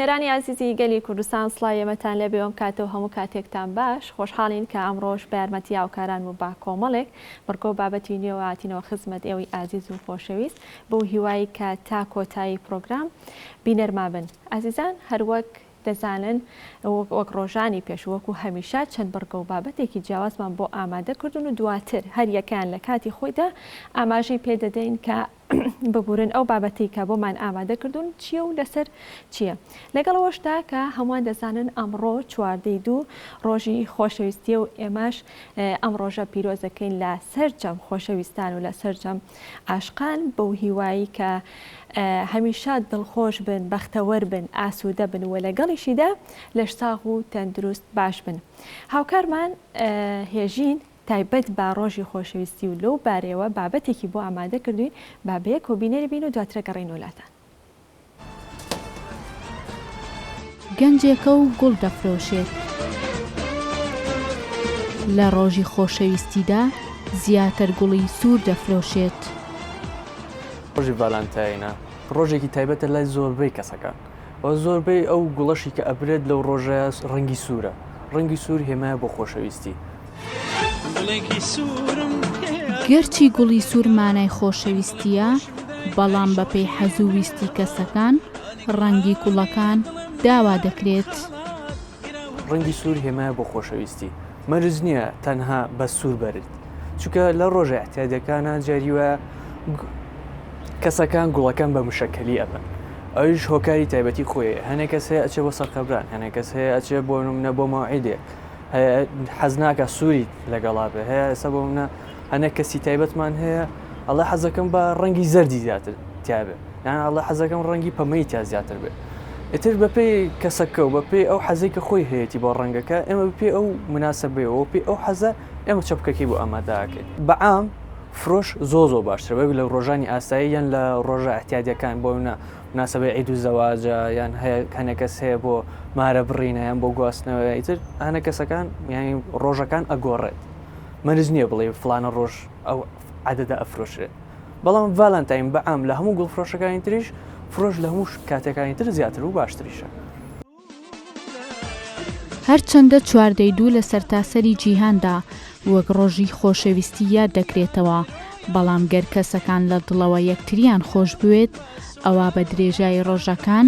بینەرانی ئازیزی گەلی کوردستان سڵای ئێمەتان لێ بێوەم کاتە و هەموو کاتێکتان باش خۆشحاڵین کە ئەمڕۆش بە یارمەتی هاوکاران و با کۆمەڵێک بڕگە و بابەتی نوێوە هاتینەوە خزمەت ئێوەی ئازیز و خۆشەویست بەو هیوای کە تا کۆتایی پرۆگرام بینەرما بن. ئازیزان هەر وەک دەزانن وەک رۆژانی پێش و وەکو هەمیشە چەند بڕگە و بابەتێکی جیاوازمان بۆ ئامادە کردوون و دواتر هەر یەکەیان لە کاتی خۆیدا ئاماژەی پێ دەدەین کە ببورن ئەو بابەتەی کە بۆمان ئامادە کردوون چییە و لەسەر چییە. لەگەڵ ئەوەشدا کە هەمووان دەزانن ئەمڕۆ چواردە ی دوو رۆژی خۆشەویستییە و ئێمەش ئەم رۆژە پیرۆزەکەین لە سەرجەم خۆشەویستان و لە سەرجەم عاشقان بەو هیوایی کە هەمیشە دڵخۆش بن بەختەوەر بن ئاسوودە بن و لەگەڵیشیدا لەش ساغ و تەندروست باش بن هاوکارمان هێژین تایبەت بە ڕۆژی خۆشەویستی و لەو بارەیەوە بابەتێکی بۆ ئامادە کردوین با بەیەکەوە بینەری بین و دواترە گەڕین وەلاتان گەنجێکە و گوڵ دەفرۆشێت. لە ڕۆژی خۆشەویستیدا زیاتر گوڵی سوور دەفرۆشێت. ڕۆژی ڤالانتاینە ڕۆژێکی تایبەتە لای زۆربەی کەسەکان و زۆربەی ئەو گوڵەشی کە ئەبرێت لەو ڕۆژەیە ڕەنگی سوورە، ڕەنگی سوور هێمایە بۆ خۆشەویستی. گەرچی گوڵی سوور مانای خۆشەویستییە، بەڵام بەپێی حەز و ویستی کەسەکان، ڕەنگی گوڵەکان داوا دەکرێت. ڕەنگی سوور هێمایە بۆ خۆشەویستی، مەرج نییە تەنها بە سوور بەرت، چونکە لە ڕۆژە ئیعتیادییەکانا جاری وایە کەسەکان گوڵەکان بە مشەکەلی ئەبەن، ئەویش هۆکاری تایبەتی خۆی هەیە، هەنێ کەس هەیە ئەچێ بۆ سەرقەبران، هەنێ کەس هەیە ئەچێ بۆ نمونە بۆ مەوعیدێک. هەیە حەز ناکە سووری لەگەڵا بێ هەیە ئێستا بۆ منە هەنە کەسی تایبەتمان هەیە ئەڵە حەزەکەم بە ڕەنگی زەردی زیاتر تیاابێ یان ئەڵە حەزەکەم ڕەنگی پەمەی تا زیاتر بێت ئیتر بەپی کەسەکە و بەپی ئەو حەزی کە خۆی هەیەی بۆ ڕەنگەکە ئێمە پێ ئەو مناسبەوە پێ ئەو حەزە ئێمە چەپکەکەی بۆ ئامادەکەین بەعام فرۆش زۆ زۆ باشتر بەبی لە ڕۆژانی ئاسایی یان لە ڕۆژە ئەتیادەکان بۆ منە مناسەبەی عید و زەواجە یان هەیە هەنێ کەس هەیە بۆ مارە بڕینە یان بۆ گواستنەوەی تر هەنە کەسەکان یانی ڕۆژەکان ئەگۆڕێت مەرج نییە بڵێ فلانە ڕۆژ ئەو عادەدا ئەفرۆشرێت بەڵام ڤالانتاین بەعام لە هەموو گوڵفرۆشەکانی تریش فرۆش لە هەموو کاتەکانی تر زیاتر و باشتریشە هەرچەندە چواردەی دوو لە سەرتاسەری جیهاندا وەک ڕۆژی خۆشەویستی یاد دەکرێتەوە، بەڵام گەر کەسەکان لە دڵەوە یەکتریان خۆشبوێت، ئەوا بە درێژایی ڕۆژەکان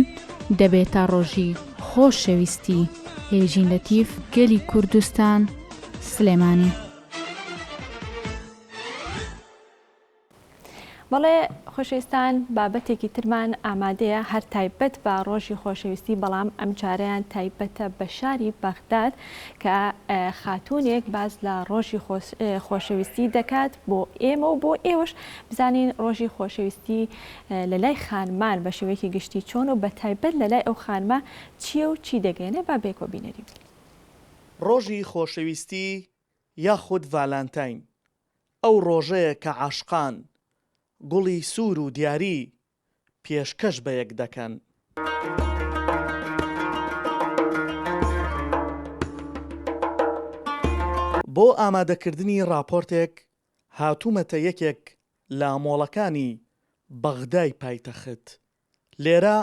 دەبێتە ڕۆژی خۆشەویستی. هێژین لەتیف، گەلی کوردستان، سلێمانی. بەڵێ خۆشەویستان بابەتێکی ترمان ئامادەیە هەر تایبەت بە ڕۆژی خۆشەویستی بەڵام ئەم جارەیان تایبەتە بە شاری بەغداد کە خاتوونێک باز لە ڕۆژی خۆشەویستی دەکات بۆ ئێمە و بۆ ئێوەش بزانین ڕۆژی خۆشەویستی لە لای خانمان بە شێوەیەکی گشتی چۆن و بە تایبەت لە لای ئەو خانمە چییە و چی دەگەێنێ با بێکۆ بینەری بین. ڕۆژی خۆشەویستی یاخود ڤالانتاین ئەو ڕۆژەیە کە عاشقان گوڵی سوور و دیاری پێشکەش بە یەک دەکەن. بۆ ئامادەکردنی ڕاپۆرتێک هاتوومەتە یەکێک لە مۆڵەکانی بەغدای پایتەخت. لێرە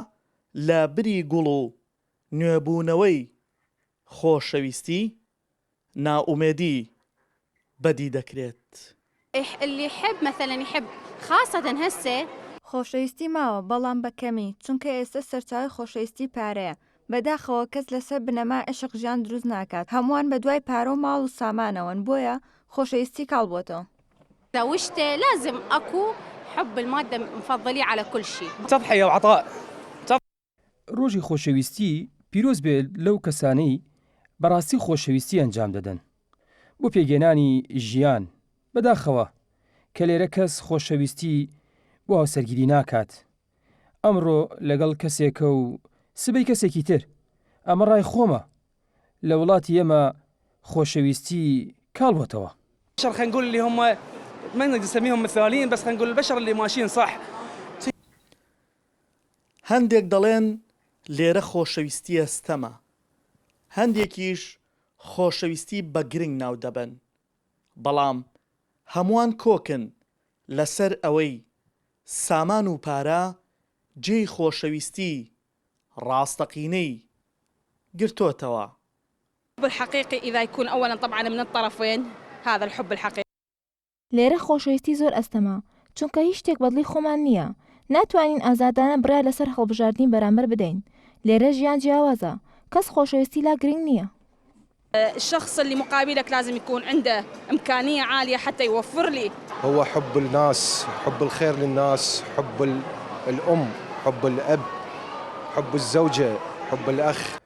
لە بری گوڵ و نوێبوونەوەی خۆشەویستی، نائومێدی بەدی دەکرێت. ئح اللە یحب مثلا یحب خاصە هەسێ. خۆشەویستی ماوە بەڵام بە کەمی چونکە ئێستە سەرچاوەی خۆشەویستی پارەیە بەداخەوە کەس لەسەر بنەمای عیشق ژیان دروست ناکات هەمووان بەدوای پارەو ماڵ و سامانەوەن بۆیە خۆشەویستی کاڵ بۆتەوە. داوشتێ لازم ئەکو حب المادە مفضلی علی کل شی. تضحیە و عطاء. ڕۆژی خۆشەویستی پیرۆز بێ لەو کەسانەی بەڕاستی خۆشەویستی ئەنجام دەدەن بۆ پێگەێنانی ژیان، بەداخەوە کە لێرە کەس خۆشەویستی بۆ هاوسەرگیری ناکات، ئەمڕۆ لەگەڵ کەسێکە و سبەی کەسێکی تر، ئەمە ڕای خۆمە، لە وڵاتی ئێمە خۆشەویستی کاڵ بۆتەوە. بشر خنگول اللي هم ما نقدر نسميهم مثاليين بس خنقول البشر اللي ماشيين صح. هەندێک دەڵێن لێرە خۆشەویستییە ستەمە، هەندێکیش خۆشەویستی بە گرنگ ناو دەبەن، بەڵام هەمووان کۆکن لەسەر ئەوەی سامان و پارە جێی خۆشەویستی ڕاستەقینەی گرتۆتەوە. الحب الحقیقی اذا یکون اولا طبعا من الطرفین هذا الحب الحقیقی. لێرە خۆشەویستی زۆر ئەستەمە، چونکە هیچ شتێک بەدڵی خۆمان نییە، ناتوانین ئازادانە بڕیار لەسەر هەڵبژاردنی بەرامبەر بدەین، لێرە ژیان جیاوازە، کەس خۆشەویستی لا گرنگ نییە. الشخص اللي مقابلك لازم يكون عنده امكانيه عاليه حتى يوفر لي. هو حب الناس حب الخير للناس حب الام حب الاب حب الزوجه حب الاخ.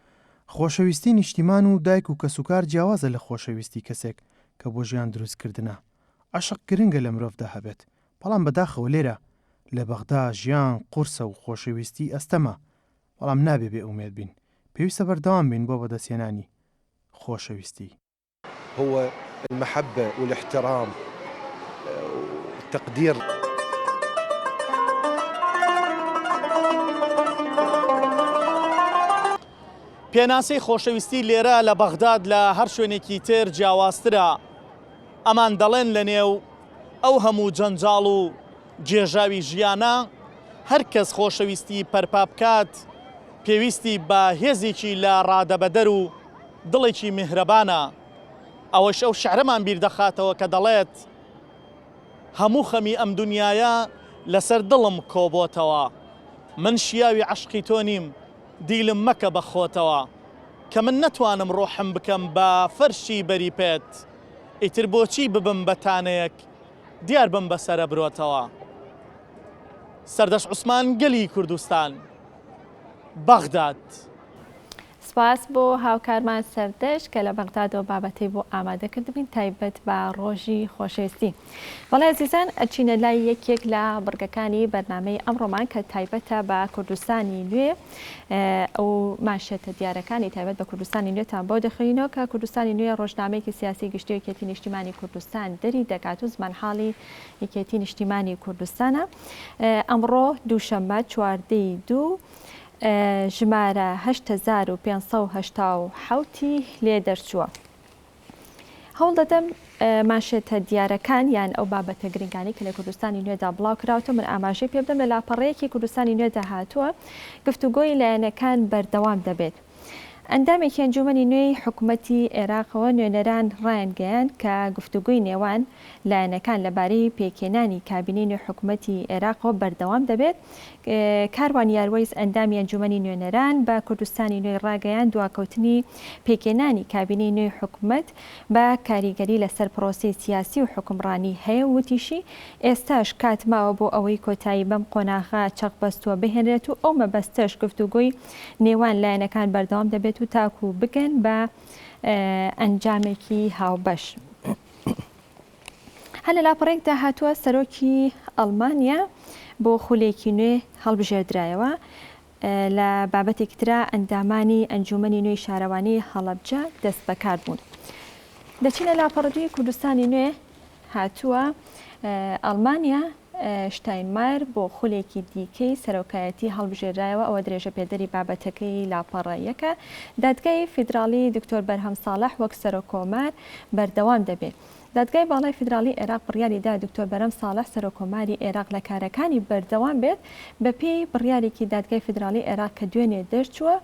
خۆشەویستی نیشتیمان و دایک و کەسوکار جیاوازە لە خۆشەویستی کەسێک، کە بۆ ژیان دروست کردنە. عەشق گرنگە لە مرۆڤدا هەبێت، بەڵام بەداخەوە لێرە لە بەغدا ژیان قورسە و خۆشەویستی ئەستەمە، بەڵام نابێ بێ ئومێد بین، پێویستە بەردەوام بین بۆ بەدەستهێنانی خۆشەویستی. هو المحبە والاحترام والتقدیر. پێناسەی خۆشەویستی لێرە لە بەغداد لە هەر شوێنێکی تر جیاوازترە، ئەمان دەڵێن لەنێو ئەو هەموو جەنجاڵ و گێژاوی ژیانە، هەر کەس خۆشەویستی پەرپا بکات، پێویستی بە هێزێکی لە ڕادەبەدەر و دڵێکی میهرەبانە. ئەوەش ئەو شعرەمان بیر دەخاتەوە کە دەڵێت، هەموو خەمی ئەم دنیایە لەسەر دڵم کۆبۆتەوە، من شیاوی عەشقی تۆ نیم، دیلم مەکە بە خۆتەوە کە من نەتوانم ڕۆحم بکەم بە فەرشی بەری پێت ئیتر بۆچی ببم بە تانەیەک دیار بم بە سەرەبرۆتەوە سەردەشت عوسمان گەلی کوردستان بەغداد. سپاس بۆ هاوکارمان سەردەشت کە لە بەغدادەوە بابەتەی بۆ ئامادە کردبین تایبەت بە ڕۆژی خۆشەویستی. بەڵێ ئەزیزان ئەچینە لای یەکێک لە بڕگەکانی بەرنامەی ئەمڕۆمان کە تایبەتە بە کوردستانی نوێ ئەو ماشێتە دیارەکانی تایبەت بە کوردستانی نوێتان بۆ دەخوێنینەوە کە کوردستانی نوێ ڕۆژنامەیەکی سیاسی گشتی یەکێتی نیشتیمانی کوردستان دەری دەکات و زمانحاڵی یەکێتی نیشتیمانی کوردستانە ئەمڕۆ دووشەممە چواردەی دوو ژمارە 1970 لێ دەرچووە. هەوڵدەدەم مانشێتە دیارەکان یان ئەو بابەتە گرنگانەی کە لە کوردستانی نوێدا بڵاوکراوتەون ئاماژەی پێ بدەم، لە لاپەڕەیەکی کوردستانی نوێدا هاتووە، گفتوگۆی لایەنەکان بەردەوام دەبێت. ئەندامێکی ئەنجوومەنی نوێی حکومەتی عێراقەوە نوێنەران رایانگەیاند کە گفتوگۆی نێوان لایەنەکان لەبارەی پێکهێنانی کابینەی نوێی حکومەتی عێراقەوە بەردەوام دەبێت. کاروان یاروەیس ئەندامی ئەنجوومەنی نوێنەران بە کوردستانی نوێی راگەیاند دواکەوتنی پێکهێنانی کابینەی نوێی حکومەت بە کاریگەری لەسەر پرۆسەی سیاسی و حوکمڕانی هەیە و وتیشی، ئێستاش کات ماوە بۆ ئەوەی کۆتایی بەم قۆناغە چەقبەستووە بهێنرێت و ئەو مەبەستەش گفتوگۆی نێوان لایەنەکان بەردەوام دەبێت و تاکوو بگەن بە ئەنجامێکی هاوبەش. هەر لە لاپەڕەیەکدا هاتووە، سەرۆکی ئەڵمانیا بۆ خولێکی نوێ هەڵبژێردرایەوە، لە بابەتێکی ترا ئەندامانی ئەنجوومەنی نوێی شارەوانی هەڵەبجە دەستبەکار بوون. دەچینە لاپەڕەدووی کوردستانی نوێ هاتووە ئەڵمانیا شتاینمایر بۆ خولێکی دیکەی سەرۆکایەتی هەڵبژێرایەوە ئەوە درێژە پێدەری بابەتەکەی لاپەڕە یەکە دادگای فیدراڵی دکتۆر بەرهەم ساڵح وەک سەرۆکۆمار بەردەوام دەبێت دادگای باڵای فیدراڵی عێراق بڕیاری دا دکتۆر بەرەم ساڵح سەرۆککۆماری عێراق لە کارەکانی بەردەوام بێت، بەپێی بڕیارێکی دادگای فیدراڵی عێراق کە دوێنێ دەرچووە،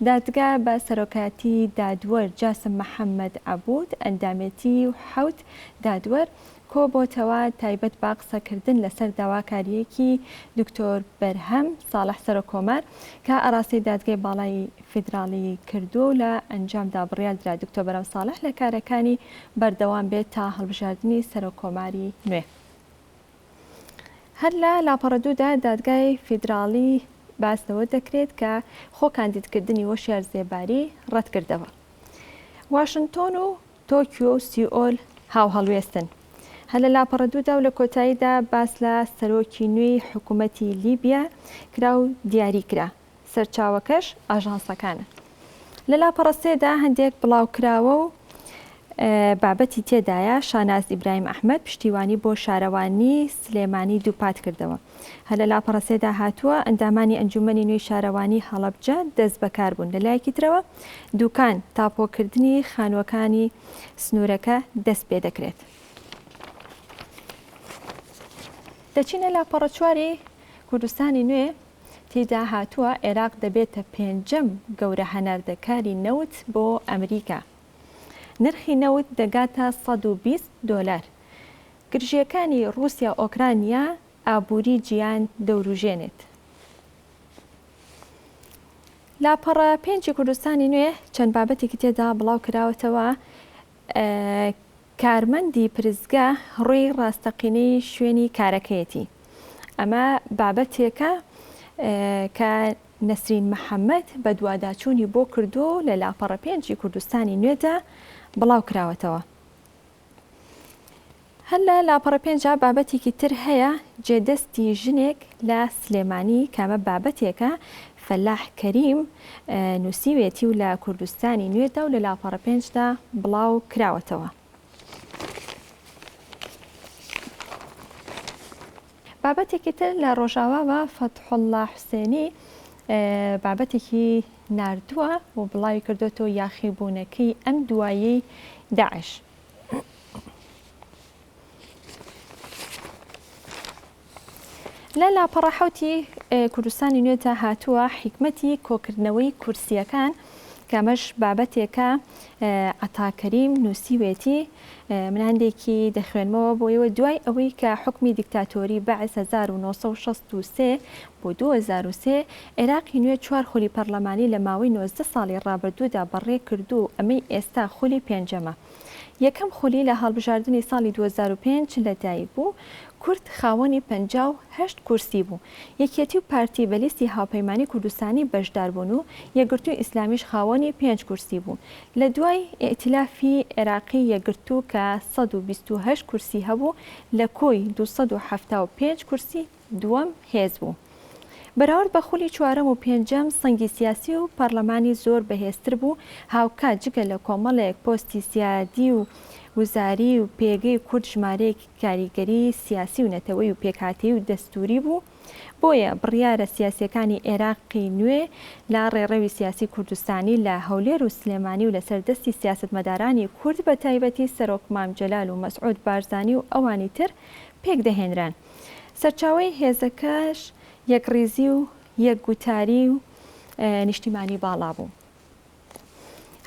دادگا بە سەرۆکایەتی دادوەر جاسم محەمەد عەبوود، ئەندامێتی حەوت دادوەر، کۆبۆتەوە تایبەت بە قسەکردن لەسەر داواکارییەکی دکتۆر بەرهەم ساڵح سەرۆککۆمار کە ئاراستەی دادگای باڵای فیدراڵی کردووە و لە ئەنجامدا بڕیار درا دکتۆر بەرەم ساڵح لە کارەکانی بەردەوام بێت تا هەڵبژاردنی سەرۆککۆماری نوێ. هەر لە لاپەڕە دوو دا دادگای فیدراڵی باس لەوە دەکرێت کە خۆ کاندیدکردنی وەشیار زێباری ڕەتکردەوە. واشنتۆن و تۆکیۆ و سیئۆل هاوهەڵوێستن. هەر لە لاپەڕە دوو دا و لە کۆتاییدا باس لە سەرۆکی نوێی حکوومەتی لیبیا کرا و دیاری کرا. سەرچاوەکەش ئاژانسەکانە. لە لاپەڕە سێ دا هەندێک بڵاوکراوە و بابەتی تێدایە، شاناز ئیبراهیم ئەحمەد پشتیوانی بۆ شارەوانیی سلێمانی دووپات کردەوە. هەر لە لاپەڕە سێ دا هاتووە، ئەندامانی ئەنجوومەنی نوێی شارەوانیی هەڵەبجە دەستبەکار بوون. لە لایەکی ترەوە دووکان، تاپۆکردنی خانووەکانی سنوورەکە دەست پێ دەکرێت. دەچینە لاپەڕە چواری کوردستانی نوێ. تیدا هاتووە عێراق دەبێتە پێنجەم گەورە هەناردەکاری نەوت بۆ ئەمریکا. نرخی نەوت دەگاتە سەد و بیست دۆلار. گرژییەکانی ڕووسیا ئۆکرانیا ئابووری جیهان دەوروژێنێت. لاپەڕە پێنجی کوردستانی نوێ چەند بابەتێکی تێدا بڵاو کراوەتەوە کارمەندی پرسگە ڕووی ڕاستەقینەی شوێنی کارەکەیەتی، ئەمە بابەتێکە کە نەسرین محەمەد بەدواداچوونی بۆ کردووە و لە لاپەڕە پێنجی کوردستانی نوێدا بڵاوکراوەتەوە. هەر لە لاپەڕە پێنجا بابەتێکی تر هەیە، جێدەستی ژنێک لە سلێمانی، کە ئەمە بابەتێکە فەلاح کەریم، نووسیوێتی و لە کوردستانی نوێدا و لە لاپەڕە پێنجدا بڵاو کراوەتەوە. بابەتێکی تر لە ڕۆژاواوە فەتحوڵڵا حوسێنی بابەتێکی ناردووە و بڵاوی کردوەتەوە یاخیبوونەکەی ئەم دواییەی داعش. لە لاپەڕە حەوتی کوردستانی نوێدا هاتووە حیکمەتی کۆکردنەوەی کورسییەکان کەمەش بابەتێکە عتاکەریم نووسیوێتی مناندێکی دەخوێنمەوە بۆیەوە دوای ئەوەی کە حکمی دیکتاتۆری بە 1963 بۆ 2023 عێراقی نوێ چوار خولی پەرلەمانی لە ماوەی 90 ساڵی ڕابردوودا بەڕێ کردو ئەمەی ئێستا خولی پێنجەمە یەکەم خولی لە هەڵبژاردنی ساڵی دوو هەزار و پێنج لەدایک بوو، کورد خاوەنی پەنجا و هەشت کورسی بوو، یەکێتی و پارتی بە لیستی هاوپەیمانی کوردستانی بەشداربوون و یەکگرتووی ئیسلامیش خاوەنی پێنج کورسی بوو، لە دوای ئیئتیلافی عێراقی یەکگرتوو کە سەد و بیست و هەشت کورسی هەبوو لە کۆی دوو سەد و حەفتا و پێنج کورسی دووەم هێز بوو. بەراورد بە خولی چوارەم و پێنجەم سەنگی سیاسی و پارلەمانی زۆر بەهێزتر بوو، هاوکات جگە لە کۆمەڵێک پۆستی سیادی و وزاری و پێگەی کورد ژمارەیەکی کاریگەری سیاسی و نەتەوەی و پێکهاتەیی و دەستووری بوو، بۆیە بڕیارە سیاسیەکانی ئێراقی نوێ لە ڕێڕەوی سیاسی کوردستانی لە هەولێر و سلێمانی و لەسەر دەستی سیاسەتمەدارانی کورد بەتایبەتی سەرۆک مام جەلال و مەسعود بارزانی و ئەوانی تر پێکدەهێنران. سەرچاوەی هێزەکەش یەکڕیزی و یەکگوتاری و نیشتیمانی باڵا بوو.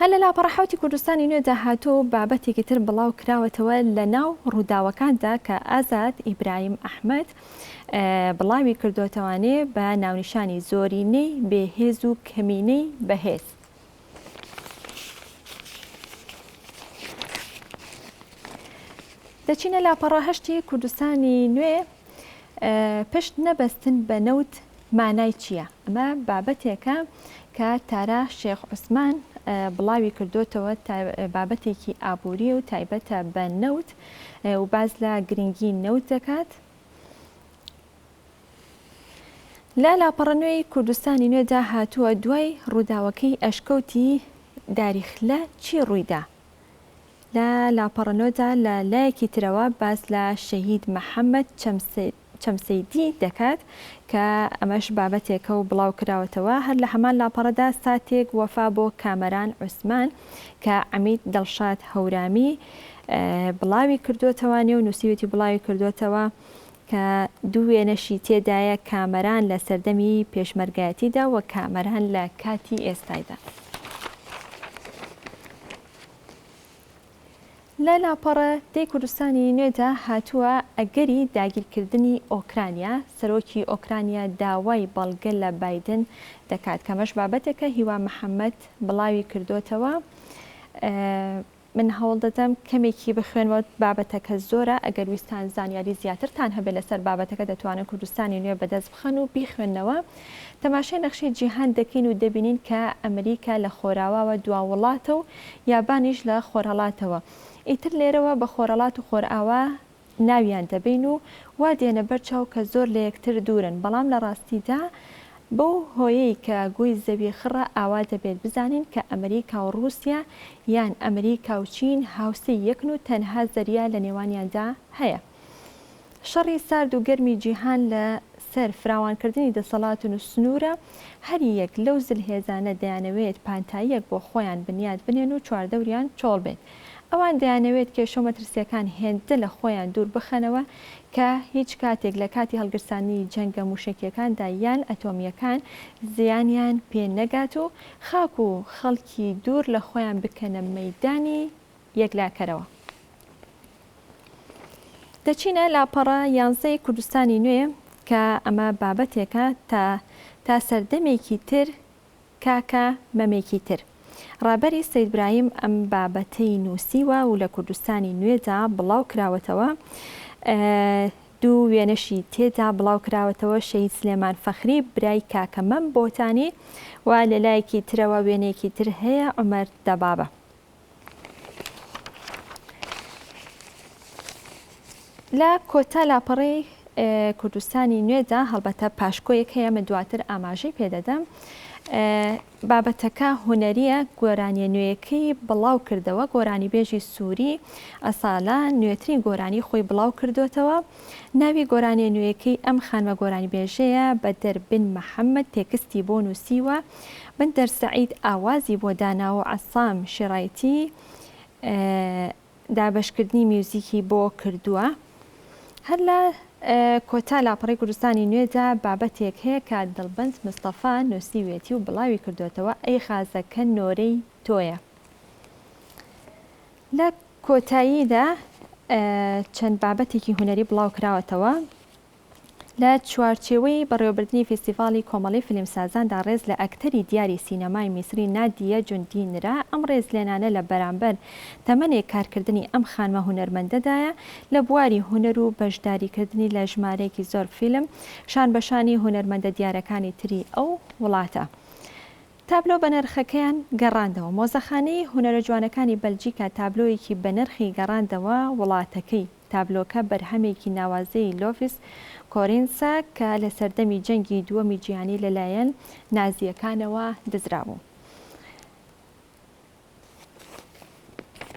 هەر لە لاپەڕە حەوتی کوردستانی نوێدا هاتووە و بابەتێکی تر بڵاو کراوەتەوە لە ناو ڕووداوەکاندا کە ئازاد ئیبراهیم ئەحمەد بڵاوی کردووەتەوانێ بە ناونیشانی زۆرینەی بێهێز و کەمینەی بەهێز. دەچینە لاپەڕە هەشتی کوردستانی نوێ پشت نەبەستن بە نەوت مانای چییە؟ ئەمە بابەتێکە کە تارا شێخ عوسمان بڵاوی کردوتەوە بابەتێکی ئابووری و تایبەتە بە نەوت و باز لە گرنگی نەوت دەکات. لە لاپەڕە نوێی کوردستانی نوێدا هاتووە دوای ڕووداوەکەی ئەشکەوتی داریخلە چی ڕوویدا؟ لە لاپەڕە نۆدا لە لایەکی ترەوە باس لە شەهید محەممەد چەمسەیدی دەکات کە ئەمەش بابەتێکە و بڵاو کراوەتەوە هەر لە هەمان لاپەڕەدا ساتێک وەفا بۆ کامەران عوسمان کە عەمید دڵشاد هەورامی بڵاوی کردوتەوە نێو نووسیوێتی بڵاوی کردوتەوە کە دوو وێنەشی تێدایە کامەران لە سەردەمی پێشمەرگایەتیدا و کامەران لە کاتی ئێستایدا. لە لاپەڕە دەی کوردستانی نوێدا هاتووە، ئەگەری داگیرکردنی ئۆکرانیا، سەرۆکی ئۆکرانیا داوای بەڵگە لە بایدن دەکات، کە ئەمەش بابەتێکە هیوا محەمەد بڵاوی کردۆتەوە. من هەوڵدەدەم کەمێکی بخوێنمەوە بابەتەکە زۆرە ئەگەر ویستان زانیاری زیاترتان هەبێت لەسەر بابەتەکە دەتوانن کوردستانی نوێ بەدەست بخەن و بیخوێننەوە تەماشای نەخشەی جیهان دەکەین و دەبینین کە ئەمریکا لە خۆراواوە دوا وڵاتە و یابانیش لە خۆرهەڵاتەوە ئیتر لێرەوە بە خۆرەڵات و خۆرئاوا ناویان دەبەین و وا دێنە بەر چاو کە زۆر لە یەکتر دوورن، بەڵام لە ڕاستیدا بەو هۆیەی کە گۆی زەوی خڕە ئاوا دەبێت بزانین کە ئەمریکا و ڕووسیا یان ئەمریکا و چین هاوسێی یەکن و تەنها زەریا لە نێوانیاندا هەیە. شەڕی سارد و گەرمی جیهان لە سەر فراوانکردنی دەسەڵاتن و سنوورە، هەر یەک لەو زلهێزانە دەیانەوێت پانتاییەک بۆ خۆیان بنیات بنێن و چواردەوریان چۆڵ بێت، ئەوان دەیانەوێت کێشە و مەترسییەکان هێندە لە خۆیان دوور بخەنەوە کە هیچ کاتێک لە کاتی هەڵگرسانی جەنگە مووشەکییەکاندا یان ئەتۆمییەکان زیانیان پێ نەگات و خاک و خەڵکی دوور لە خۆیان بکەنە مەیدانی یەکلاکەرەوە. دەچینە لاپەڕە یانزەی کوردستانی نوێ کە ئەمە بابەتێکە تا تا سەردەمێکی تر کاکە مەمێکی تر ڕابەری سەید برایم ئەم بابەتەی نووسیوە و لە کوردستانی نوێدا بڵاو کراوەتەوە دوو وێنەشی تێدا بڵاو کراوەتەوە شەید سلێمان فەخری برای کاکە مەم بۆتانی و لە لایەکی ترەوە وێنێکی تر هەیە عمر دەبابە لە کۆتا لاپەڕەی کوردستانی نوێدا هەڵبەتە پاشکۆیەک هەیە من دواتر ئاماژەی پێدەدەم بابەتەکە هوەریە گۆرانیە نوێیەکەی بڵاو کردەوە گۆرانی بێژی سووری ئەسالا نوێترین گۆرانی خۆی بڵاو کردوێتەوە ناوی گۆرانیە نوێیەکەی ئەم خانمە گۆرانی بێژەیە بە دەربن محەممەد تێکستی بۆ نووسیوە بەندەر سەعید ئاوازی بۆ داناوە عەسام شێرایتی دابەشکردنی میوزیکی بۆ کردووە هەر لە کۆتا لاپەڕی کوردستانی نوێدا بابەتێک هەیە کە دڵبەنج مستەفا نووسیوێتی و بڵاوی کردوێتەوە ئەی خازەکە نۆرەی تۆیە لە کۆتاییدا چەند بابەتێکی هوەری بڵاو کراوەتەوە لە چوارچێوەی بەڕێوەبردنی فیستیڤاڵی کۆمەڵەی فیلمسازاندا ڕێز لە ئەکتەری دیاری سینەمای میسری نادیە جوندی نرا، ئەم ڕێزلێنانە لە بەرامبەر تەمەنێک کارکردنی ئەم خانمە هونەرمەندەدایە لە بواری هونەر و بەشداریکردنی لە ژمارەیەکی زۆر فیلم شانبەشانی هونەرمەندە دیارەکانی تری ئەو وڵاتە تابلۆ بەنرخەکەیان گەڕاندەوە مۆزەخانەی هونەرەجوانەکانی بەلجیکا تابلۆیەکی بەنرخی گەڕاندەوە وڵاتەکەی تابلۆکە بەرهەمێکی ناوازەی لۆڤیس کۆرینسە کە لە سەردەمی جەنگی دووەمی جیهانی لەلایەن نازییەکانەوە دزرابوو.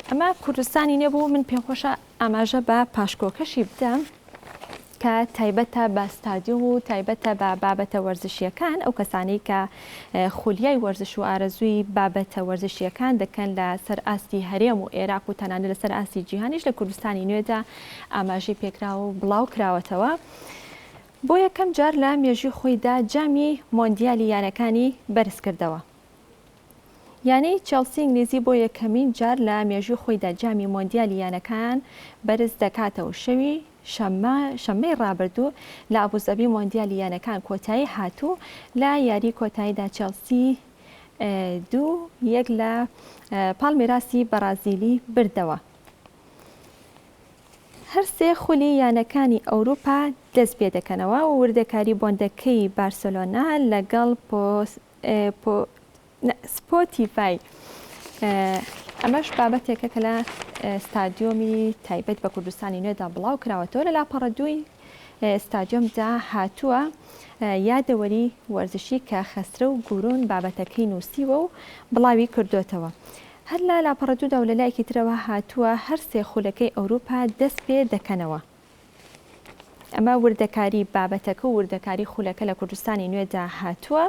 ئەمە کوردستانی نوێ بوو، من پێمخۆشە ئاماژە بە پاشکۆکەشی بدەم کە تایبەتە بە ستادیۆم و تایبەتە بە بابەتە وەرزشیەکان ئەو کەسانی کە خولیای وەرزش و ئارەزووی بابەتە وەرزشییەکان دەکەن لە سەر ئاستی هەرێم و ئێراق و تەنانەت لە سەر ئاستی جیهانیش لە کوردستانی نوێدا ئاماژەی پێکراوە و بڵاو کراوەتەوە. بۆ یەکەم جار لە مێژووی خۆیدا جامی مۆندیالی یانەکانی بەرز کردەوە. یانەی چێڵسی ئینگلیزی بۆ یەکەمین جار لە مێژووی خۆیدا جامی مۆندیالی یانەکان بەرز دەکاتەوە و شەوی شەممە، شەممەی ڕابردوو لە ئابوزەبی مۆندیالی یانەکان کۆتایی هات و لە یاریی کۆتاییدا چێڵسی دوو یەک لە پاڵمیراسی بەڕازیلی بردەوە. هەرسێ خولی یانەکانی ئەوروپا دەست پێدەکەنەوە و وردەکاری بۆندەکەی بارسێلۆنا لەگەڵ لە سپۆتیفای، ئەمەش بابەتێکە کە لە ستادیۆمی تایبەت بە کوردستانی نوێدا بڵاوکراوەتەوە، لە لاپەڕە دووی ستادیۆمدا هاتووە، یادەوەری وەرزشی کە خەسرەو گورون بابەتەکەی نووسیوە و بڵاویکردۆتەوە. هەر لە لاپەڕە دوودا و لە لایەکی ترەوە هاتووە، هەر سێ خولەکەی ئەوروپا دەستپێدەکەنەوە. ئەمە وردەکاری بابەتەکە و وردەکاری خولەکە لە کوردستانی نوێدا هاتووە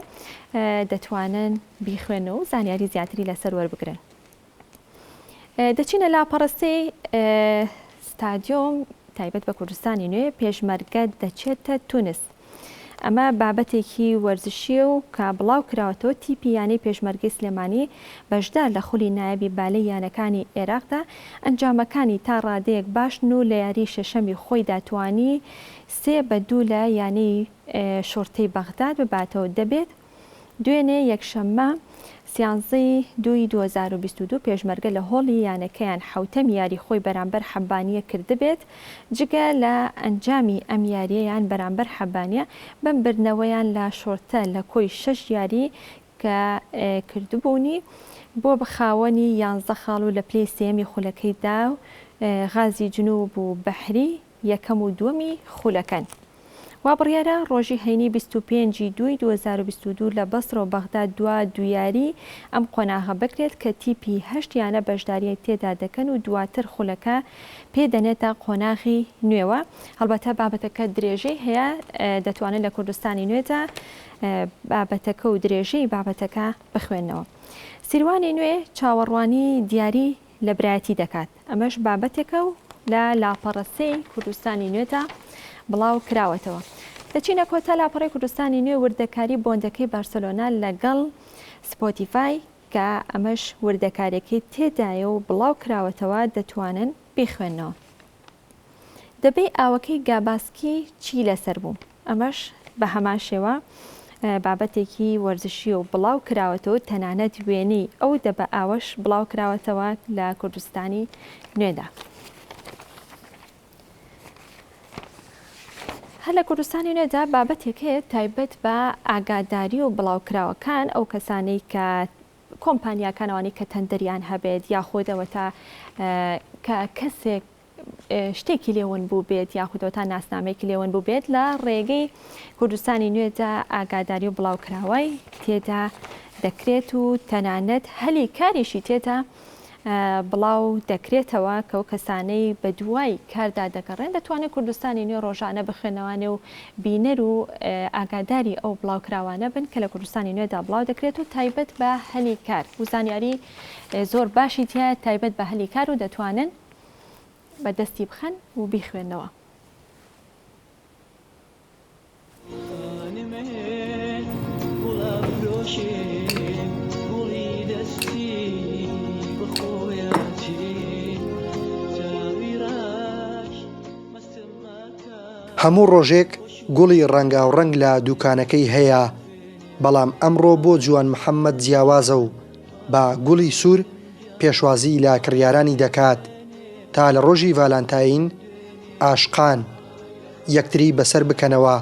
دەتوانن بیخوێن و زانیاری زیاتری لەسەر وەربگرن دەچینە لاپەڕستەی ستادیۆم تایبەت بە کوردستانی نوێ پێشمەرگە دەچێتە تونست ئەمە بابەتێکی وەرزشییە و کە بڵاو کراوەتەوە، تیپی یانەی پێشمەرگەی سلێمانی بەشدار لە خولی نایابی بالەی یانەکانی ئێراقدا، ئەنجامەکانی تا ڕادەیەک باشن و لە یاریی شەشەمی خۆیدا توانی سێ بە دوو لە یانەی شوڕتەی بەغداد بباتەوە، دەبێت. دوێنێ یەکشەممە سیانزەی دووی دوو هەزار و بیست و دوو پێشمەرگە لە هۆڵی یانەکەیان حەوتەم یاری خۆی بەرامبەر حەبانیە کردبێت، جگە لە ئەنجامی ئەم یاریەیان بەرامبەر حەبانیە بەم بردنەوەیان لە شۆرتە لە کۆی شەش یاری کە کردبوونی بۆ بە خاوەنی یانزە خاڵ و لە پلەی سێیەمی خولەکەی دا غازی جنوب و بەحری یەکەم و دووەمی خولەکەن. وا بڕیارە ڕۆژی هەینی بیست و پێنج ی دووی دوو هەزار و بیست و دوو لە بەسڕە و بەغدا دوا دویاری ئەم قۆناغە بکرێت کە تیپی هەشت یانە بەشداریی تێدا دەکەن و دواتر خولەکە پێ دەنێتە قۆناغی نوێوە. هەڵبەتە بابەتەکە درێژەی هەیە دەتوانن لە کوردستانی نوێدا بابەتەکە و درێژەی بابەتەکە بخوێننەوە. سیروانی نوێ چاوەڕوانی دیاری لە برایەتی دەکات ئەمەش بابەتێکە و لە لاپەڕە سێی کوردستانی نوێدا بڵاو کراوەتەوە دەچینە کۆتا لاپەڕی کوردستانی نوێ وردەکاری بۆندەکەی بارسلۆنا لەگەڵ سپۆتیفای کە ئەمەش وردەکارێکەی تێدایە و بڵاو کراوەتەوە دەتوانن بیخوێنەوە. دەبەی ئاوەکەی گاباسکی چی لەسەر بوو؟ ئەمەش بە هەمان شێوە بابەتێکی وەرزشیە و بڵاو کراوەتەوە تەنانەت وێنەی ئەو دەبە ئاوەش بڵاو کراوەتەوە لە کوردستانی نوێدا. هەر لە کوردستانی نوێدا بابەتێک هەیە تایبەت بە ئاگاداری و بڵاوکراوەکان ئەو کەسانەی کە کۆمپانیاکان ئەوانەی کە تەندەریان هەبێت یاخود ئەوەتا کە کەسێک شتێکی لێ ون بووبێت یاخود ئەوەتا ناسنامەیەکی لێ ون بووبێت لە ڕێگەی کوردستانی نوێدا ئاگاداری و بڵاوکراوەی تێدا دەکرێت و تەنانەت هەلی کاریشی تێدا بڵاو دەکرێتەوە کە ئەو کەسانەی بەدوای کاردا دەگەڕێن دەتوانێت کوردستانی نوێ ڕۆژانە بخوێنەوانێ و بینەر و ئاگاداری ئەو بڵاوکراوانە بن کە لە کوردستانی نوێدا بڵاو دەکرێت و تایبەت بە هەلی کار و زانیاری زۆر باشی تایە تایبەت بە هەلی کار و دەتوانن بەدەستی بخەن و بیخوێنەوە. هەموو ڕۆژێک گوڵی ڕەنگاوڕەنگ لە دووکانەکەی هەیە، بەڵام ئەمڕۆ بۆ جوان محەممەد جیاوازە و بە گوڵی سوور پێشوازی لە کڕیارانی دەکات، تا لە ڕۆژی ڤالانتاین، عاشقان، یەکتری بەسەر بکەنەوە.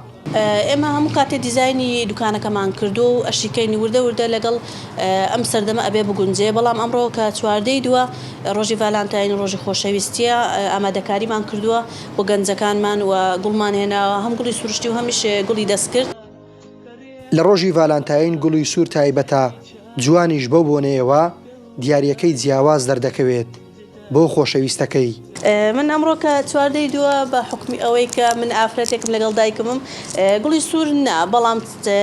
ئێمە هەموو کاتێ دیزاینی دوکانەکەمان کردووە و ئەشیکەین وردە وردە لەگەڵ ئەم سەردەمە ئەبێ بگونجێ بەڵام ئەمڕۆ کە چواردەی دووە ڕۆژی ڤالانتاین ڕۆژی خۆشەویستییە ئامادەکاریمان کردووە بۆ گەنجەکانمان و گوڵمان هێناوە هەم گوڵی سروشتی و هەمیش گوڵی دەستکرد لە ڕۆژی ڤالانتاین گوڵی سوور تایبەتە، جوانیش بەو بۆنەیەوە دیارییەکەی جیاواز دەردەکەوێت بۆ خۆشەویستەکەی. من ئەمڕۆ کە چوار دەی دووە، بە حوکمی ئەوەی کە من ئافرەتێکم لەگەڵ دایکمم، گوڵی سوور نا، بەڵام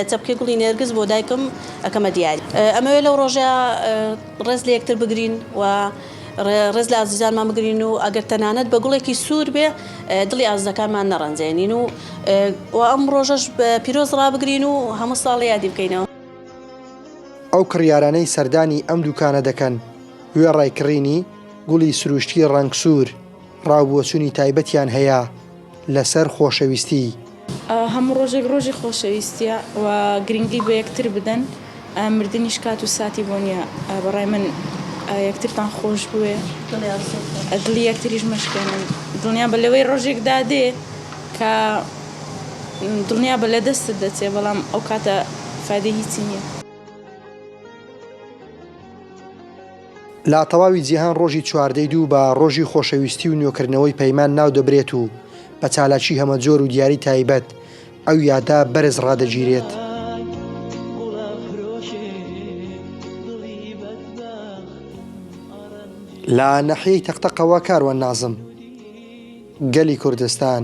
چەپکێ گوڵی نێرگز بۆ دایکم ئەکەمە دیاری. ئەمەوێت لەو ڕۆژە ڕێز لە یەکتر بگرین و. ڕێز لە ئازیزانمان بگرین و ئەگەر تەنانەت بە گوڵێکی سوور بێ دڵی ئازیزەکانمان نەڕەنجێنین و و ئەم ڕۆژەش بە پیرۆز ڕابگرین و هەموو ساڵ یادی بکەینەوە. ئەو کڕیارانەی سەردانی ئەم دوکانە دەکەن وێڕای کڕینی گوڵی سروشتی ڕەنگ سوور، ڕاوبۆچونی تایبەتیان هەیە لەسەر خۆشەویستی. هەموو ڕۆژێک ڕۆژی خۆشەویستیە و گرنگی بە یەکتر بدەن مردنیش کات و ساتی بۆ نیە بەڕای من یەکترتان خۆش بوێ دڵی یەکتریش مەشکێنن دڵنیا بە لەوەی ڕۆژێک دادێ کە دڵنیا بە لە دەستت دەچێ بەڵام ئەو کاتە فادی هیچی نیە. لە تەواوی جیهان ڕۆژی چواردەی دوو بە ڕۆژی خۆشەویستی و نوێکردنەوەی پەیمان ناو دەبرێت و بە چالاکی هەمەجۆر و دیاری تایبەت ئەو یادە بەرز ڕادەگیرێت. لە ناحیەی تەق تەقەوە کاروان نازم، گەلی کوردستان.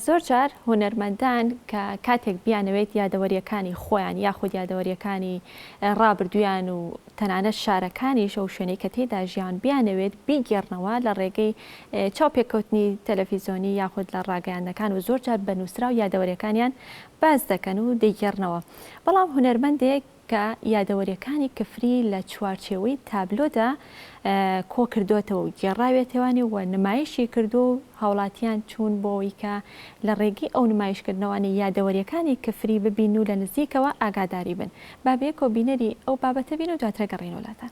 زۆر جار هونەرمەندان کە کاتێک بیانەوێت یادەوەرییەکانی خۆیان یاخود یادەوەرییەکانی ڕابردوویان و تەنانەت شارەکانیش ئەو شوێنەی کە تێیدا ژیان بیانەوێت بیگێڕنەوە لە ڕێگەی چاوپێکەوتنی تەلەفیزۆنی یاخود لە ڕاگەیاندنەکان و زۆر جار بە نووسراو یادەوەرییەکانیان باس دەکەن و دەیگێڕنەوە بەڵام هونەرمەندێک کە یادەوەریەکانی کفری لە چوارچێوەی تابلۆدا کۆکردۆتەوە و گێڕاوێتەوانی و نمایشی کردووە و هاوڵاتیان چوون بۆوەی کە لە ڕێگەی ئەو نمایشکردنەوانە یادەوەریەکانی کفری ببین و لە نزیکەوە ئاگاداری بن با بەیەکەوە بینەری ئەو بابەتە بین و دواتر گەڕێینەوە لاتان.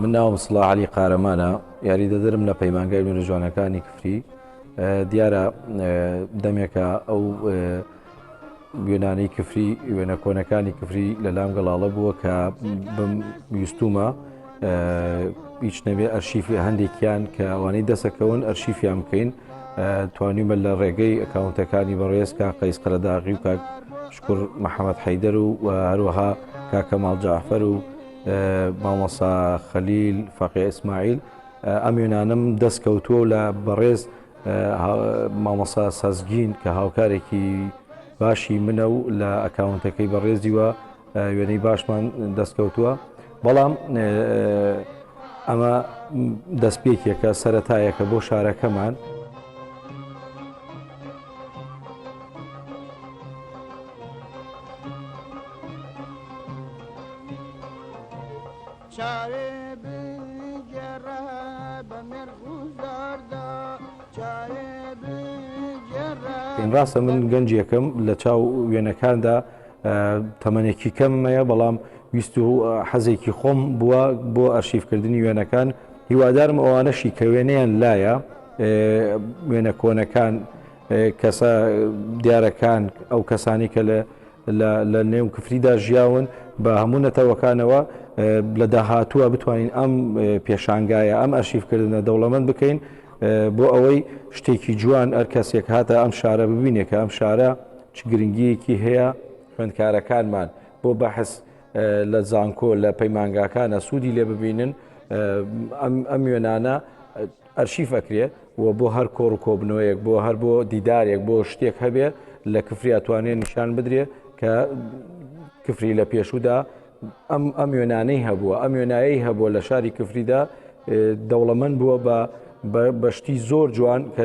من ناوم سڵا عەلی قارەمانە، یاریدەدەرم لە پەیمانگای نوێنەجوانەکانی کفری، دیارە دەمێکە ئەو وێنانەی کفری وێنە کۆنەکانی کفری لە لام گەڵاڵە بووە کە بم ویستومە هیچ نەبێ ئەرشیفی هەندێکیان کە ئەوانەی دەسەکەون ئەرشیفیان بکەین توانیمە لە ڕێگەی ئەکاونتەکانی بەڕێز کا قەیس قەرەداغی و کاک شکر محەممەد حەیدەر و هەروەها کاکەماڵ جعفەر و مامۆسا خەلیل فەقێ ئیسماعیل ئەم وێنانەم دەست کەوتووە و لە بەڕێز مامۆسا سەزگین کە هاوکارێکی باشی منە و لە ئەکاونتەکەی بەڕێزیوە وێنەی باشمان دەستکەوتووە بەڵام ئەمە دەستپێکێکە سەتایەکە بۆ شارەکەمان ڕاستە من گەنجێکم لە چاو وێنەکاندا تەمەێکی کەممەیە بەڵام ویست و حەزێکی خۆم بووە بۆ ئەرشیفکردنی وێنەکان هیوادارم ئەوانەشی کە وێنەیان لایە وێنە کۆنەکان کەسە دیارەکان ئەو کەسانی کە لە لە نێو کفریدا ژیاون بە هەموو نەتەوەکانەوە لە داهاتووە بتوانین ئەم پێشانگایە ئەم ئەرشیفکردنە دەوڵەمەند بکەین بۆ ئەوەی شتێکی جوان ئەرکەسێک هاتە ئەم شارە ببینێکە ئەم شارە چ گرنگیەکی هەیە خوێندکارەکانمان بۆ بەحس لە زانکۆ لە پەیمانگاکانە سوودی لێ ببینن ئەم وێنانە ئەرشیف ئەکرێ و بۆ هەر کۆڕ و کۆبنەوەیەک بۆ هەر بۆ دیدارێک بۆ شتێک هەبێ لە کفری ئەتوانێ نیشان بدرێ کە کفری لە پێشودا ئەم ئەم وێنانەی هەبووە ئەم وێنایی هەبووە لە شاری کفریدا دەوڵەمەند بووە بە بەشتی زۆر جوان کە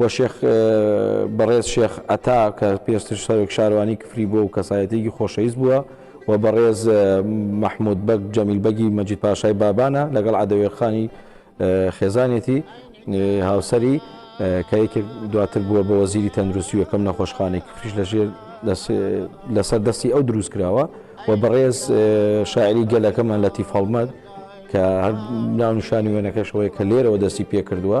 و شێخ بەڕێز شێخ عەتا کە پێشتر سەرۆک شارەوانی کفری بووە و کەسایەتیەکی خۆشەویست بووە و بەڕێز مەحمود بەگ جەمیل بەگی مەجید پاشای بابانە لەگەڵ عەدەوێ خانی خێزانێتی هاوسەری کە یەکێک دواتر بووە بە وەزیری تەندروستی یەکەم نەخۆشخانەی کفریش لەژێر لەسەر دەستی ئەو دروست کراوە و بەڕێز شاعری گەلەکەمان لەتی فەڵمەت کە هەر ناونشانی وێنەکەشەوەی کە لێرەوە دەستی پێ کردووە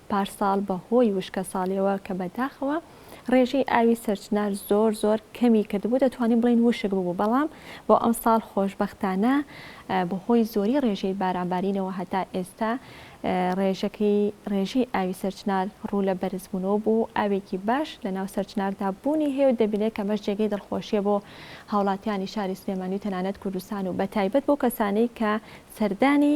پارساڵ بە هۆی وشکەساڵیەوە کە بە داخەوە ڕێژەی ئاوی سەرچنار زۆر زۆر کەمی کردبوو دەتوانین بڵێین وشک ببوو بەڵام بۆ ئەمساڵ خۆشبەختانە بە هۆی زۆری ڕێژەی بارانبارینەوە هەتا ئێستا ڕێژەکەی ڕێژەی ئاوی سەرچنار ڕوو لە بەرزبوونەوە بوو ئاوێکی باش لە ناو سەرچناردا بوونی هەیە و دەبینێت کە مەش جێگەی دڵخۆشیە بۆ هاوڵاتیانی شاری سلێمانی و تەنانەت کوردستان و بە تایبەت بۆ کەسانەی کە سەردانی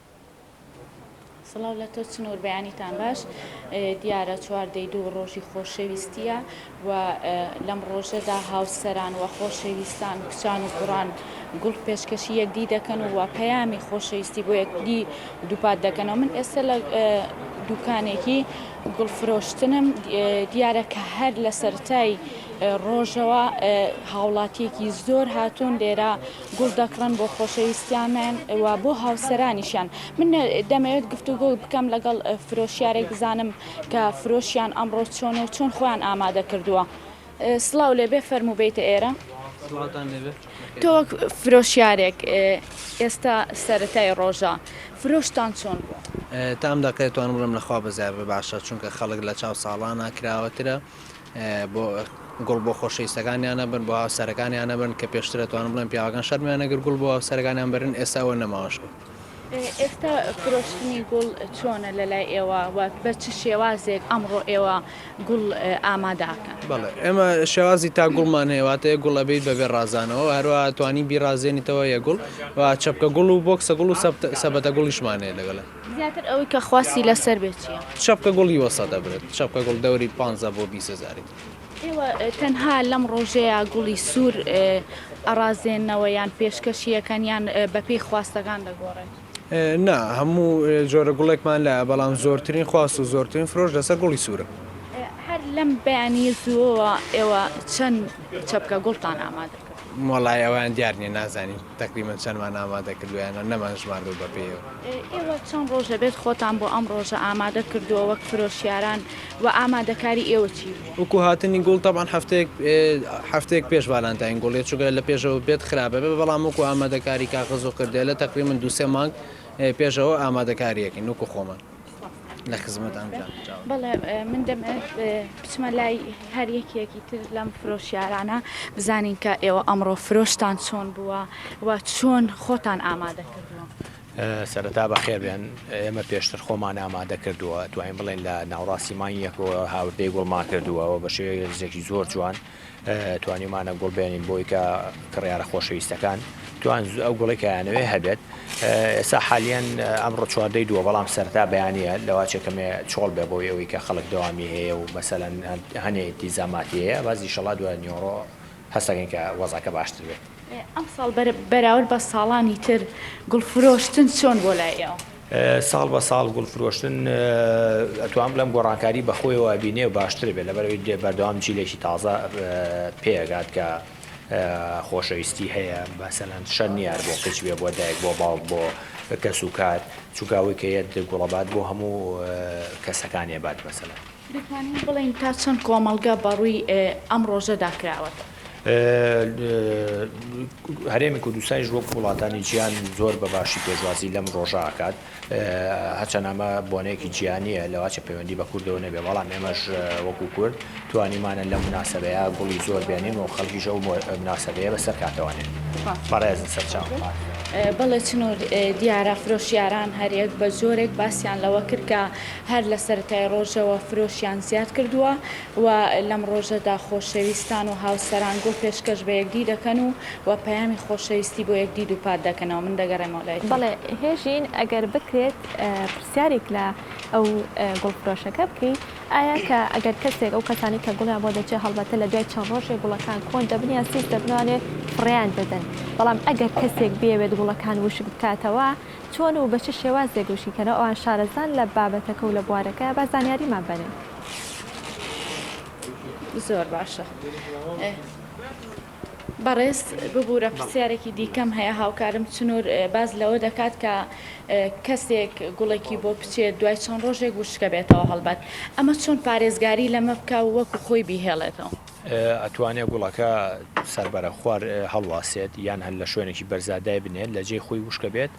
سڵاو لە تۆ چنۆر بەیانیتان باش دیارە چوار دەی دوو ڕۆژی خۆشەویستیە و لەم ڕۆژەدا هاوسەران و خۆشەویستان کچان و کوڕان گوڵ پێشکەشی یەکدی دەکەن و پەیامی خۆشەویستی بۆ یەکدی دووپات دەکەنەوە من ئێستا لە دوکانێکی گوڵ فرۆشتنم دیارە کە هەر لە سەرای ڕۆژەوە هاوڵاتیەکی زۆر هاتوون لێرە گوڵ دەکڕن بۆ خۆشەویستیانیان و بۆ هاوسەرانیشیان. من دەمەوێت گفتوگۆ بکەم لەگەڵ فرۆشیارێک بزانم کە فرۆشیان ئەمڕۆ چۆنە و چۆن خۆیان ئامادە کردووە. سڵاو لێبێ فەرموو بێیتە ئێرە. سڵاوتان لێبێ. تۆ وەک فرۆشیارێک ئێستا سەرەتای ڕۆژە، فرۆشتان چۆن بووە؟ تا ئەم دەقەیە توانم بڵێم لە خوا بەزیادبێ باشە، چونکە خەڵک لە چاو ساڵانە کراوەترە. گوڵ بۆ خۆشەویستەکانیان نەبەن، بۆ هاوسەرەکانیان نەبەن، کە پێشتر ئەتوانم بڵێم پیاوەکان شەرمیان نەگرت گوڵ بۆ هاوسەرەکانیان بەرن، ئێستا ئەوە نەماوەش گوڵ. ئێستا فرۆشتنی گوڵ چۆنە لەلای ئێوە و بە چ شێوازێک ئەمڕۆ ئێوە گوڵ ئامادە ئەکەن؟ بەڵێ ئێمە شێوازی تا گوڵمان هەیە، واتە یەک گوڵ ئەبەیت بەبێ ڕازانەوە و هەروەها ئەتوانی بیڕازێنیتەوە یەک گوڵ و چەپکە گوڵ و بۆکسە گوڵ و سەبەتە گوڵیشمان هەیە لەگەڵ. زیاتر ئەوەی کە خواستی لەسەر بێت چیە؟ چەپکە گوڵ یوە سە دەبرێت. چەپکە گوڵ دەوری پانزە بۆ بیس هەزاری. ئێوە تەنها لەم ڕۆژەیا گوڵی سوور ئەڕازێننەوە یان پێشکەشی ئەکەن یان بەپێی خواستەکان دەگۆڕێت؟ نا، هەموو جۆرە گوڵێکمان لایە، بەڵام زۆرترین خواست و زۆرترین فرۆش لەسەر گوڵی سوورە. هەر لەم بەیانییە زووەوە ئێوە چەند چەپکە گوڵتان ئامادە کردووە؟ وەڵای ئەوەیان دیار نییە، نازانین. تەقریبەن چەندمان ئامادە کردوویانە نەمانژماردووە بە پێیەوە. ئێوە چەند ڕۆژ دەبێت خۆتان بۆ ئەم ڕۆژە ئامادە کردووە وەک فرۆشیاران و ئامادەکاری ئێوە چی بوو؟ وەکو هاتنی گوڵ تەبعەن هەفتەیەک هەفتەیەک پێش ڤالانتاین گوڵ دێت چونکە لە پێشەوە بێت خراپ ئەبێت بەڵام وەکو ئامادەکاری کاغەز و کردێلە تەقریبەن دوو سێ مانگ پێشەوە ئامادەکاریەکەین وەکو خۆمان. لە خزمەت ئەمجا بەڵێ من دەمێت بچمە لای هەر یەکێکی تر لەم فرۆشیارانە بزانین کە ئێوە ئەمڕۆ فرۆشتان چۆن بووە و چۆن خۆتان ئامادە کردووە سەرەتا بە خێربێن ئێمە پێشتر خۆمان ئامادە کردووە توانین بڵێن لە ناوڕاستی مانگێکەوە هاوردەی گوڵمان کردووەەوە بە شێزێکی زۆر جوان توانیومانە گوڵ بێنین بۆی کە کڕیارە خۆشەویستەکان توان ئەو گوڵی کەیانەوێ هەبێت ئێستا حالیان ئەمڕۆ چواردەی دووە بەڵام سەرتا بەیانە لەواچێکەمێ چۆڵ بێ بۆی ئەوەی کە خەڵک دەوامی هەیە و مەسەەن هەنێ دیزاماتیەیە باز دیشەڵا دوای نیۆڕۆ هەستەکەین کە وەزاکە باشتر بێت ئەمساڵ بەراورد بە ساڵانی تر گوڵفرۆشتن چۆن بۆ لای ئێوە؟ ساڵ بە ساڵ گوڵ فرۆشتن ئەتوام بڵێم گۆڕانکاری بەخۆیەوە ئەبینێ و باشتر بێت لەبەرەوەی دێ بەردەوام جیلێکی تازە پێگات کە خۆشەویستی هەیە بەسەلەن شەر نیار بۆ کچ بێ بۆ دایک بۆ باوک بۆ کەس و کار چووکاوی کە یەت گوڵەبات بۆ هەموو کەسەکانێ بات مەسەلەن دەتوانین بڵێین تا چەند کۆمەڵگە بە ڕووی ئەم ڕۆژەدا کراوەتە؟ هەرێمی کوردستانیش وەک وڵاتانی جیهان زۆر بە باشی پێشوازی لەم ڕۆژە ئەکات، هەرچەند ئەمە بۆنەیەکی جیهانییە لەوەچە پەیوەندی بە کوردەوە نەبێت، بەڵام ئێمەش وەکو کورد توانیومانە لەم مناسەبەیە گوڵی زۆر بێنین و خەڵکیش ئەو مناسەبەیە بەسەر کاتەوانێت. بەڕێزن سەرچاوم پاک بێت. بەڵێ چنوور دیارە فرۆشیاران هەریەک بە جۆرێک باسیان لەوە کرد کە هەر لە سەرەتای ڕۆژەوە فرۆشیان زیاد کردووە و لەم ڕۆژەدا خۆشەویستان و هاوسەران گوڵ پێشکەش بە یەکدی دەکەن و و پەیامی خۆشەویستی بۆ یەکدی دووپات دەکەنەوە من دەگەڕێمەوە لای تۆ. بەڵێ هێژین ئەگەر بکرێت پرسیاریک لە ئەو گوڵ فرۆشەکە بکەی ئایا کە ئەگەر کەسێک ئەو کەسانی کە گوڵیان بۆ دەچێ هەڵبەتە لە دوای چەند ڕۆژێ گوڵەکان کۆن دەبن یان سیس دەبنەوانێ فڕێیان دەدەن بەڵام ئەگەر کەسێک بیەوێت گوڵەکان وشک بکاتەوە چۆن و بە چ شێوازێک و شیکەرە ئەوان شارەزان لە بابەتەکە و لە بوارەکە، با زانیاریمان بەنێن. زۆر باشە بەڕێز. ببورە پرسیارێکی دیکەم هەیە، هاوکارم چنور باس لەوە دەکات کە کەسێک گوڵێکی بۆ بچێت دوای چەند ڕۆژێک وشکەبێتەوە هەڵبەت ئەمە چۆن پارێزگاری لەمە بکا و وەکو خۆی بیهێڵێتەوە؟ ئەتوانێ گوڵەکە سەر بەرە خوار هەڵواسێت یان هەر لە شوێنێکی بەرزا دای بنێت لە جێی خۆی وشکە بێت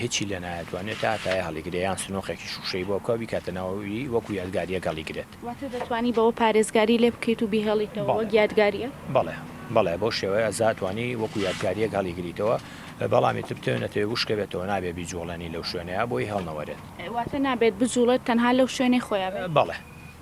هیچی لێ نایەتوانێت تا تای هەڵیگرێ یان سنۆقێکی شووشەی بۆ بکە بیکاتە ناوەوی وەکو یادگارییەک هەڵیگرێت. واتە دەتوانی بەوە پارێزگاری لێ بکەیت و بیهێڵیتەوە وەک یادگارییەک؟ بەڵێ بەڵێ بەو شێوەیە ئەزاتوانی وەکو یادگارییەک هەڵیگریتەوە بەڵام ئیتر بتەوێ نەتەوێ وشکە بێتەوە نابێ بیجووڵێنی لەو شوێنەیا بۆی هەڵنەوەرێت. واتە نابێت بجووڵێت تەنها لەو شوێنەی خۆیا بێت؟ بەڵێ.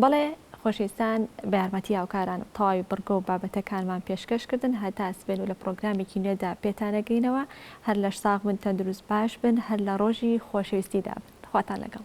بەڵێ خۆشەویستان بە یارمەتی هاوکاران و تەواوی بڕگە و بابەتەکانمان پێشکەش کردن هەتا سبەین و لە پڕۆگرامێکی نوێدا پێتان ئەگەینەوە هەر لەش ساغ بن تەندروست باش بن هەر لە ڕۆژی خۆشەویستیدا بن خواتان لەگەڵ.